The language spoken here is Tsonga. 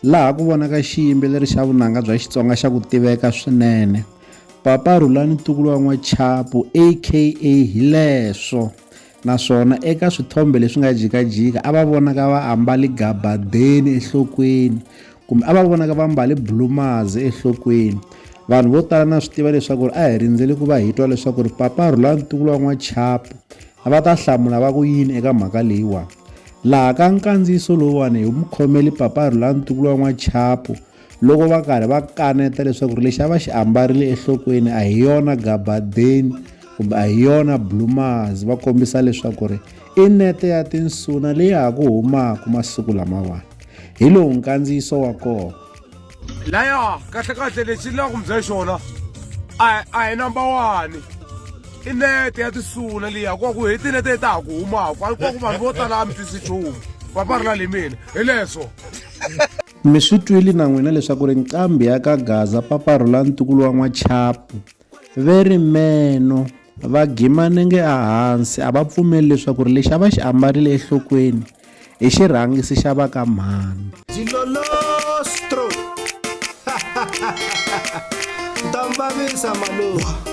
Laha ku vonaka xiyimbeleri xa vunanga bya Xitsonga xa ku tiveka swinene, Papa Rhulani Ntukulu wa N'wachapu aka Hileswo, naswona eka swithombe leswi nga jikajika a va vonaka va ambale gabadeni enhlokweni kumbe a va vonaka va mbale bulumazi enhlokweni. Vanhu vo tala na swi tiva leswaku a hi rindzele ku va hi twa leswaku Papa Rhulani Ntukulu wa N'wachapu va ta hlamula va ku yini eka mhaka leyiwani. Laha ka nkandziyiso lowuwani hi mukhomeli paparhu la ntukulu wa n'wachapu loko va karhi va kaneta leswaku ri lexi a va xi ambarile ehlokweni a hi yona gabadeni kumbe a hi yona blumaz va kombisa leswaku ri i nete ya tinsuna leyi ha ku humaka masiku lamawani hi lowu nkandziyiso wa kona laya kahlekahle lexi ni la ku mi bya xona a a hi number one i nete ya tisula liya ku ku hi tinete ta ha ku humaka a ku ku vanhu vo tala a mi twisi nchumu va parla le mina hi leswo mi swi twile na n'wina leswaku ri nqambi ya ka gaza paparhula ntukulu wa n'wachapu Ve ri meno va gima nenge a hansi a va pfumeli leswaku ri lexi a va xi ambarile ehlokweni i xirhangisi xa va ka mhani. Dilolostro! Nta mi vavisa malume.